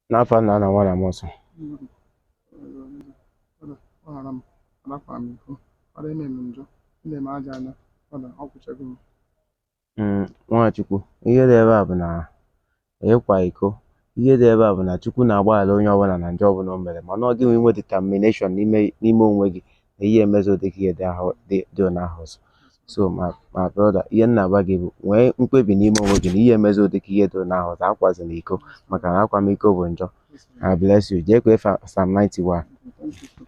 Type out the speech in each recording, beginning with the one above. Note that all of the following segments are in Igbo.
n'afa nna na nwa na mmụọ nsọ gbaghara m arapụ m iko ọra eme m njọ ndị m aja anya ọda ọ kwụchago m Mm, nwa Chukwu ihe dị ebe a bụ na ịkwa iko ihe dị ebe a bụ na Chukwu na-agbaghara onye ọbụla na njọ ọbụla o mere mana ọ gị nwe inwe determination n'ime n'ime onwe gị na ihe emezi ụdị ihe dị onye ahụ ọzọ so my brother ihe m na-agwa gị bụ nwee mkpebi n'ime onwe gị na ihe emezi ụdị ihe dị onye ahụ ọzọ akwazi na iko maka na akwamiko bụ njọ I bless you jee kwee fa- Psalm 91 Thank you.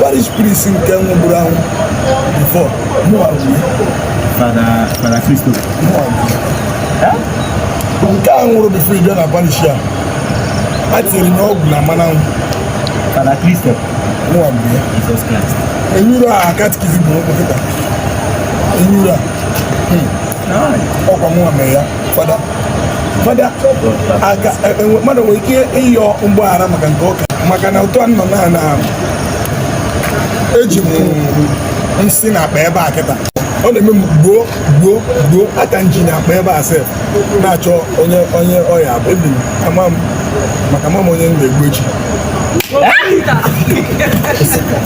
parish priest nke nwụburu anwụ before mụwa fada fada kristo mụwa nke a nwụrụ before ị bịa na parish a etinyere m ọgwụ na mmanụ anwụ fada kristo mụwa bụ ya jizọs kraịst enyuru a katikizim na okpokịta enyuru a ọ kwa mụwa mere ya fada fada aka e, e, mmadụ nwere ike ịyọ mgbaghara maka nke ụka maka na otu a m nọ na na eji m nsi na akpa ebe a kịta ọ na-eme m gbuo gbuo gbuo aka m ji na akpa ebe a sef na-achọ onye onye ọ ya-abụ ebi ama m maka ama m onye m ga-egbu echi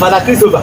Father Christopher